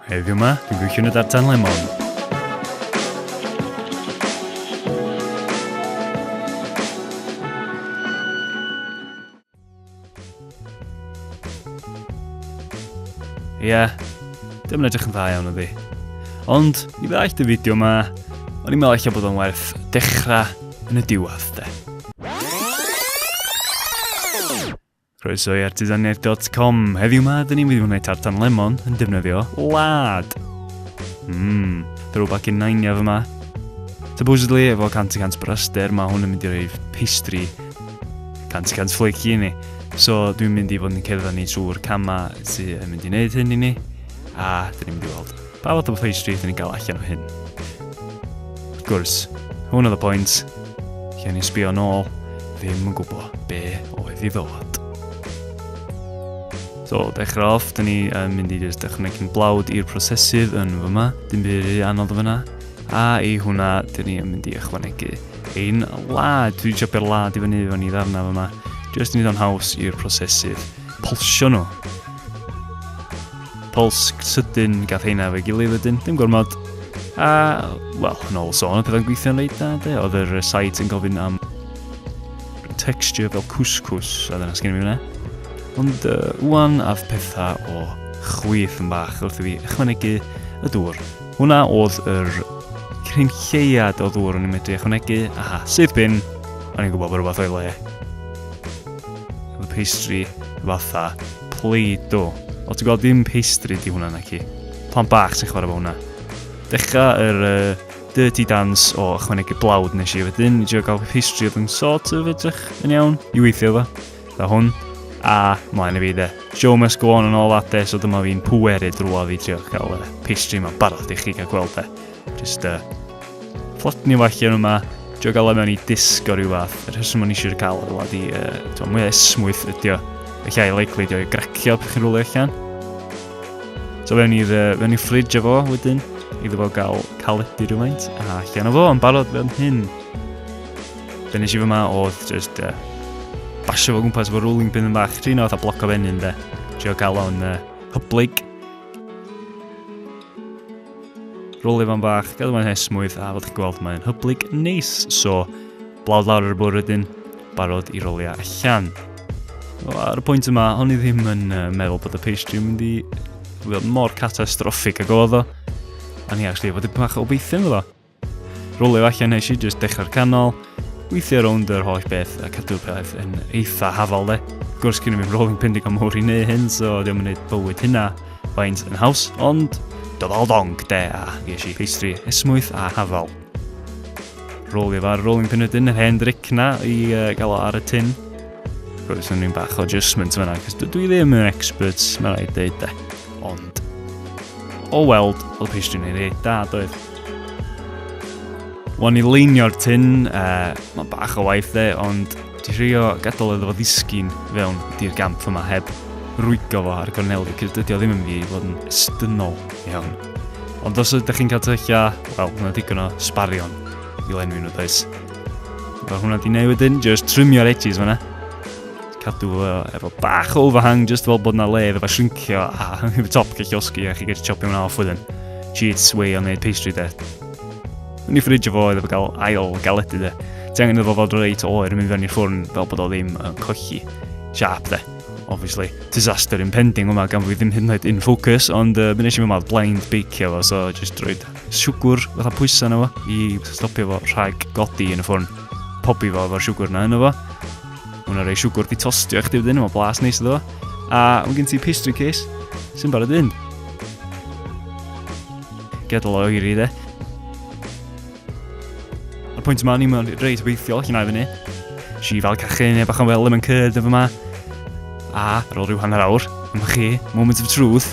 Heddiw yma, dwi'n gweithio yn y dartan lemon. Ie, yeah, dim yn edrych yn dda iawn ydi. Ond, i ddaeth y fideo yma, o'n i'n meddwl eich bod o'n werth dechrau yn y diwedd, de. Croeso i artisaniaeth.com. Heddiw ma, dyn ni'n mynd i wneud tartan lemon yn defnyddio lad. Mmm, throwback in nainia fy ma. Supposedly, efo 100% bryster, mae hwn yn mynd i roi pastry 100% flaky i ni. So, dwi'n mynd i fod yn cerdded ni trwy'r camau sy'n mynd i wneud hyn i ni, a dyn ni'n mynd i weld. Pa fath o pastry ydyn ni'n gael allan o hyn? Wrth gwrs, hwn oedd y pwynt, lle o'n i'n sbio nôl, ddim yn gwybod be oedd i ddod. So, dechrau off, dyn ni yn mynd i just ychwanegu'n blawd i'r prosesydd yn fyma, dim byd rhy anodd o fyna, a i hwnna, dyn ni yn mynd i ychwanegu ein lad, dwi'n siopio'r lad i fyny o'n i ddarna fyma, just i wneud o'n haws i'r prosesydd polsio nhw. Pols sydyn gath heina fe gilydd wedyn, dim gormod. A, wel, yn ôl sôn, oedd pethau'n gweithio'n reit da, de. Oedd yr site yn gofyn am texture fel cwscws, a dyna sgyn i mi fyna. Ond uh, wwan af pethau o chwyth yn bach wrth i fi ychwanegu y dŵr. Hwna oedd yr cryn lleiad o ddŵr o'n i'n medru ychwanegu, aha, sydd bin, o'n i'n gwybod bod rhywbeth o'i le. Oedd y pastry fatha Play-Doh. Wel ti'n gweld dim pastry di hwnna na ci. Plant bach sy'n chwarae fo hwnna. Dechrau yr uh, dirty dance o ychwanegu blawd nes i wedyn. I drio gael pastry oedd yn sort of edrych yn iawn i weithio fo. Da hwn. A mlaen i fi de. Show must go on yn ôl ate, so dyma fi'n pweru drwa fi drio cael y pastry yma barod i chi gael gweld e. Just uh, plot ni wacio nhw yma. Dwi'n gael mewn i disgo rhyw fath. Yr rheswm o'n eisiau cael o'r wlad i uh, mwy esmwyth ydi o. Felly a'i likely ydi o'i gracio peth chi'n rwlio allan. So fewn i'r uh, i ffridge efo wedyn, iddo fo gael caledu rhywfaint, a allan o fo yn barod fewn hyn. Be nes i fy ma oedd just uh, basio fo gwmpas efo rolling pin yn bach, trin o fatha bloc o fenyn de. Trio cael o'n uh, hyblyg Rôl Ifan bach, gadw mae'n hesmwyth a fel chi'n gweld mae'n hyblyg neis. So, blawd lawr ar y bwr wedyn, barod i roliau allan. O, ar y pwynt yma, hon i ddim yn uh, meddwl bod y pastry yn mynd i fod mor catastroffig ag oedd o. A ni actually, bod y pach o beithio yn fyddo. Rôl efallai nes i jyst dechrau'r canol, weithio rownd yr holl beth a cadw peth yn eitha hafal de. Gwrs gen i ddim rôl yn pendig am hwyr i neu hyn, so ddim yn gwneud bywyd hynna faint yn haws, ond dyfal dong de a ges i pastry esmwyth a hafal. Rôl i far, rôl i'n penydyn yr hen dric na i uh, gael o ar y tin. Roedd yn un bach o adjustment fyna, cos dwi ddim yn expert, mae'n rhaid dweud de. Ond, o weld, oedd pastry yn ei reit da, doedd. Wan i leinio'r tyn, uh, mae bach o waith dde, ond di rhio gadael iddo fo ddisgyn fewn di'r gamp yma heb rwygo fo ar gornel fi, cys dydy o ddim yn fi i fod yn estynol iawn. Ond os ydych chi'n cael tyllylla, wel, hwnna digon o sbarion i lenwi nhw, does. Fel hwnna di newid yn, just trimio'r edges fanna. cadw fo efo bach o overhang just fel bod na le efo shrinkio a hefo top gallu osgi a chi gallu chopio hwnna off wedyn. Cheats way o'n neud pastry de. Yn ei ffridge fo oedd efo gael ail galedu de. Ti angen efo fod reit oer yn mynd fewn i'r ffwrn fel bod o ddim yn colli siap de. Obviously, disaster impending yma gan fi ddim hyn yn oed in focus, ond uh, mi nes i mewn blind bake efo, so just drwy siwgwr fatha pwysa yna fo i stopio fo rhag godi yn y ffwrn. Pobi fo efo'r siwgwr yna yna fo. Mae hwnna rei siwgwr di tostio eich difydyn yma blas neis iddo. A mae gen ti pastry case sy'n barod un. Gadael o oeri dde. A'r pwynt yma, ni'n mynd reit beithiol, chi'n aifynu. Si fel cachu neu bach yn wel yn cyd efo yma. A ar ôl rhyw hanner awr, yma chi, moment of truth,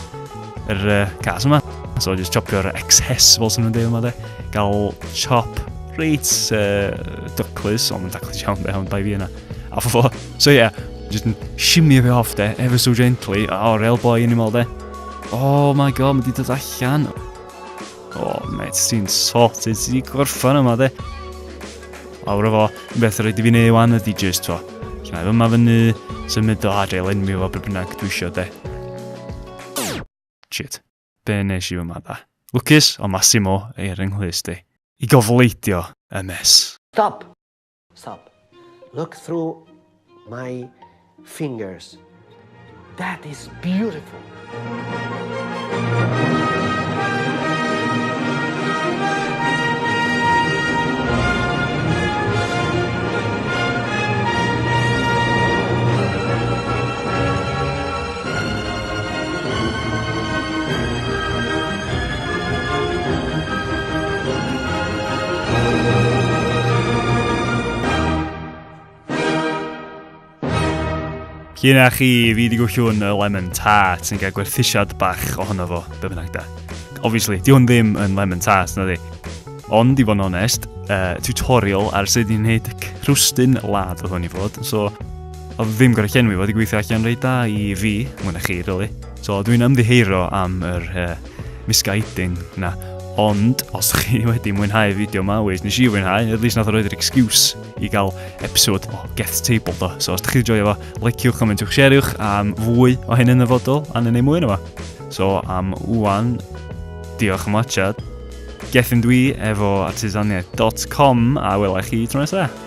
yr uh, cas yma. So just chopio'r excess fel sy'n nhw'n dweud yma de. Gael chop Reit uh, dwclus, ond yn daclus iawn be, ond bai fi yna. A fo, so ie, yeah, just yn simio fi off de, ever so gently, a oh, real boy yn ymol de. Oh my god, mae di dod allan. Oh, mate, ti'n sot, ti'n di gorffan yma, de. Awr o fo, yn beth rhaid i fi neud wan ydi just fo. Cymau fy yma fyny, symud o adre, len mi fo beth bynnag dwi eisiau, de. Shit. Be nes i yma da? Lwcus, o Massimo, ei yrru nghlust di. I gofleidio y mes. Stop! Stop! Look through my fingers. That is beautiful! Cyn a chi fi wedi gwllwn y lemon tart sy'n cael gwerthusiad bach ohono fo, be bynnag da. Obviously, di hwn ddim yn lemon tart, na di. Ond, i fod yn onest, uh, tutorial ar sut i'n neud crwstyn lad oedd hwn i fod, so Oedd ddim gorau llenwi, oedd wedi gweithio allan rei da i fi, mwyn a chi, really. So, dwi'n ymddiheuro am yr uh, misguiding na. Ond, os chi wedi mwynhau fideo ma, weis, nes i fwynhau, at least nath o roi'r excuse i gael episod o Geth Table do. So, os da chi wedi joio fo, liciwch, comentiwch, share'wch am fwy o hyn yn y fodol, a neu mwy yna fo. So, am wwan, diolch am watchad. Gethin dwi efo artisaniaeth.com a welai chi tro nesaf.